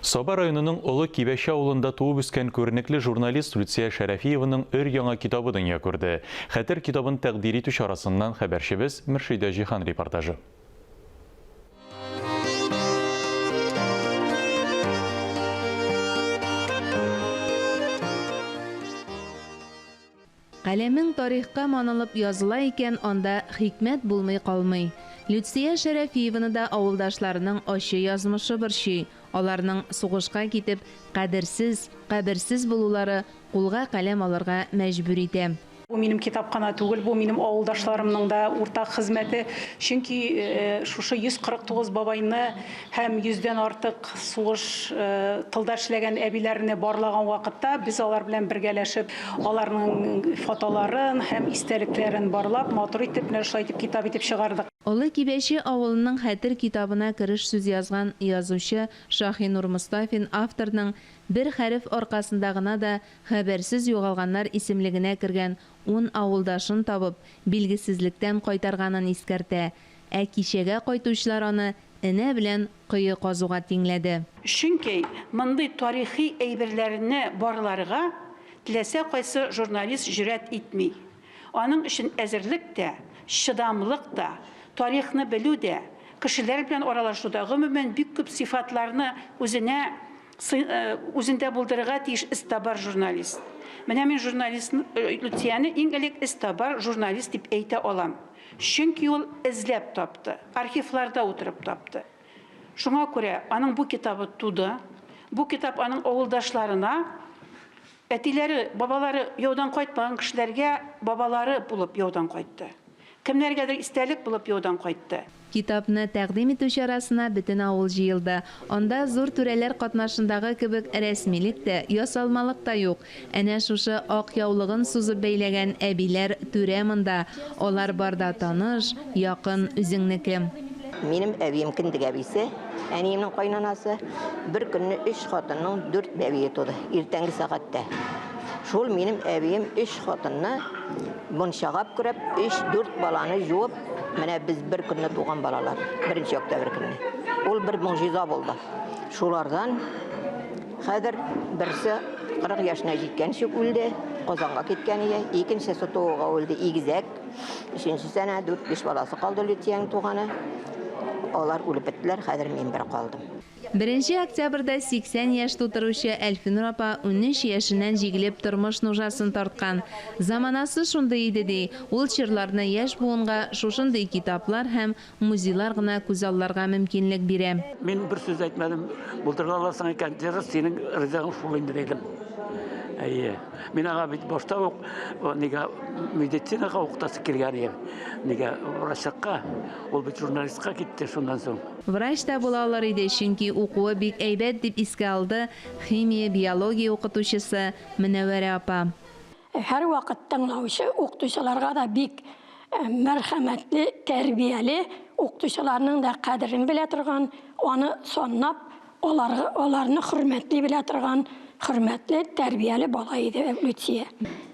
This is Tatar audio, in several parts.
Саба районының Олы Кибәче авылында туып үскән күренекле журналист Люция Шәрәфиеваның өр-яңа китабы дөнья күрде. Хәтер китабын тәкъдир итү чарасыннан хәбәрчебез Мөршидә Җиһан репортажы. Каләмең тарихка манылып языла икән, анда хикмәт булмый калмый. Люция Шәрәфиеваны да авылдашларының ачы язмышы борчый, аларның сугышка китеп, кадерсез, каберсез булулары кулга каләм алырга мәҗбүр итә. Бу минем китап кына түгел, бу минем авылдашларымның да уртак хезмәте, чөнки шушы 149 бабайны Һәм йөздән артык сугыш тылда эшләгән әбиләрне барлаган вакытта, без алар белән бергәләшеп, аларның фотоларын һәм истәлекләрен барлап, матур итеп, менә шулай итеп китап итеп чыгардык. Олы Кибәче авылының хәтер китабына кереш сүз язган язучы Шаһинур Мостафин авторның бер хәреф аркасында гына да хәбәрсез югалганнар исемлегенә кергән ун авылдашын табып, билгесезлектән кайтарганын искәртә, ә кичәгә кайтучылар аны энә белән кое казуга тиңләде. Чөнки мондый тарихи әйберләрне барларга теләсә кайсы журналист җөрьәт итми. Аның өчен әзерлек тә, чыдамлык та, тарихны белү дә, кешеләр белән аралашу да, гомумән, бик күп сыйфатларны үзенә Сын үзендә булдырырга тиеш эстабар журналист. Менә мин журналист Люцияне иң элек эстабар журналист дип әйтә алам. Чөнки ул эзләп тапты, архивларда утырып тапты. Шуңа күрә аның бу китабы туды. Бу китап аның авылдашларына Әтиләре, бабалары яудан кайтмаган кешеләргә бабалары булып яудан кайтты. Кемнәргәдер истәлек булып яудан кайтты. Китапны тәкъдим итү чарасына бөтен авыл җыелды. Анда зур түрәләр катнашындагы кебек рәсмилек тә, ясалмалык та юк. Әнә шушы ак яулыгын сузып бәйләгән әбиләр, түрә монда. Алар бар да таныш, якын, үзеңнеке. Минем әбием, кендек әбисе. Әниемнең кайнанасы бер көнне өч хатынның дүрт бәбие туды, иртәнге сәгатьтә. Шул минем әбием өч хатынны мунчагап күрәп, өч дүрт баланы жуып, менә без бер көнне туган балалар, беренче октябрь көнне. Ул бер могҗиза булды. Шулардан хәзер берсе 40 яшенә җиткәнче үлде, Казанга киткән ие, икенчесе тууга үлде, игезәк. Өченчесе әнә дүрт биш баласы калды Лютиянең туганы. Алар үлеп беттеләр, хәзер мин бер калдым. Беренче октябрьдә 80 яшь тутыручы Әлфинур апа унөч яшеннән җигелеп тормыш нужасын тарткан. Заманасы шундый иде ди, ул чорларны яшь буынга шушындый китаплар һәм музейлар гына күзалларга мөмкинлек бирә. Мин бер сүз әйтмәдем. Булдыра аласың икән, дөрес, синең ризыгың шул инде, дидем. Әйе. Мин аңа бит башта ук нигә медицинага укытасы килгән идем. Нигә врачка? Ул бит журналистка китте шуннан соң. Врач та була алыр иде, чөнки укуы бик әйбәт, дип искә алды химия, биология укытучысы Мөнәвәрә апа. Һәрвакыт тыңлаучы укытучыларга да бик мәрхәмәтле, тәрбияле, укытучыларның да кадерен белә торган, аны саннап, аларны хөрмәтли белә торган хөрмәтле, тәрбияле бала иде Люция.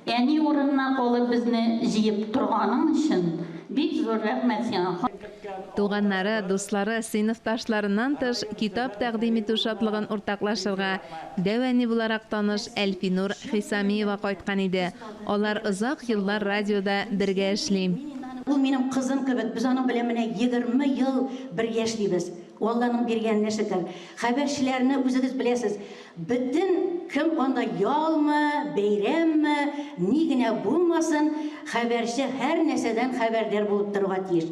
Әни урынына калып безне җыеп торганың өчен бик зур рәхмәт сиңа. Туганнары, дуслары, сыйныфташларыннан тыш, китап тәкъдим итү шатлыгын уртаклашырга, Дәү әни буларак таныш Әлфинур Хисамиева кайткан иде. Алар озак еллар радиода бергә эшли. Ул минем кызым кебек, без аның белән менә егерме ел бер яшлибез. Ул Алланың биргәненә шөкер. Хәбәрчеләрне үзегез беләсез, бөтен кем анда ялмы, бәйрәмме, ни генә булмасын, хәбәрче һәрнәрсәдән хәбәрдар булып торырга тиеш.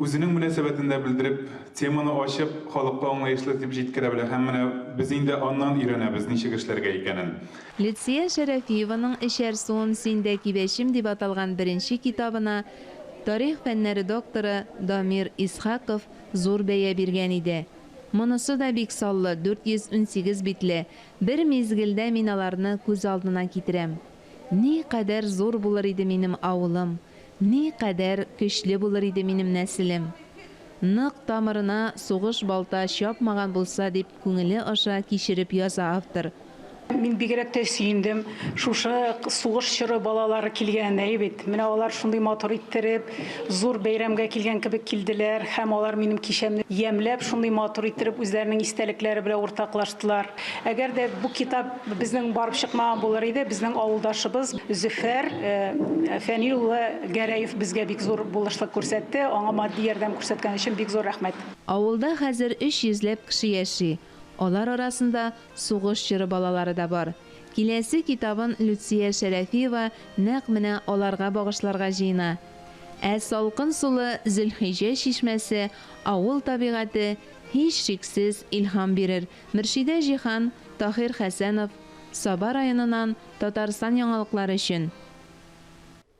Үзенең мөнәсәбәтен дә белдереп, теманы ачып, халыкка аңлаешлы итеп җиткерә белә һәм менә без инде аннан өйрәнәбез, ничек эшләргә икәнен. Лидсия Шәрәфиеваның Эчәр суым син дә кибәчем дип аталган беренче китабына тарих фәннәре докторы Дамир Исхаков зур бәя биргән иде. Монысы да бик саллы, 418 битле, бер мизгелдә мин аларны күз алдына китерәм. Ни кадәр зур булыр иде минем авылым, ни кадәр көчле булыр иде минем нәселем! Нык тамырына сугыш балта чапмаган булса, дип күңеле аша кичереп яза автор. Мин бигрәк тә сөендем. Шушы сугыш чоры балалары килгән, әйе бит? Менә алар шундый матур иттереп, зур бәйрәмгә килгән кебек килделәр һәм алар минем кичәмне ямьләп, шундый матур иттереп үзләренең истәлекләре белән уртаклаштылар. Әгәр дә бу китап безнең барып чыкмаган булыр иде, безнең авылдашыбыз Зөфәр Фәнил улы Гәрәев безгә бик зур булышлык күрсәтте. Аңа матди ярдәм күрсәткән өчен бик зур рәхмәт. Авылда хәзер өч йөзләп кеше яши, алар арасында сугыш чоры балалары да бар. Киләсе китабын Люция Шәрәфиева нәкъ менә аларга багышларга җыена. Ә салкын сулы Зөлхиҗә чишмәсе, авыл табигате, һичшиксез, илһам бирер, Мөршидә Җиһан, Таһир Хәсәнов, Саба районыннан, Татарстан яңалыклары өчен.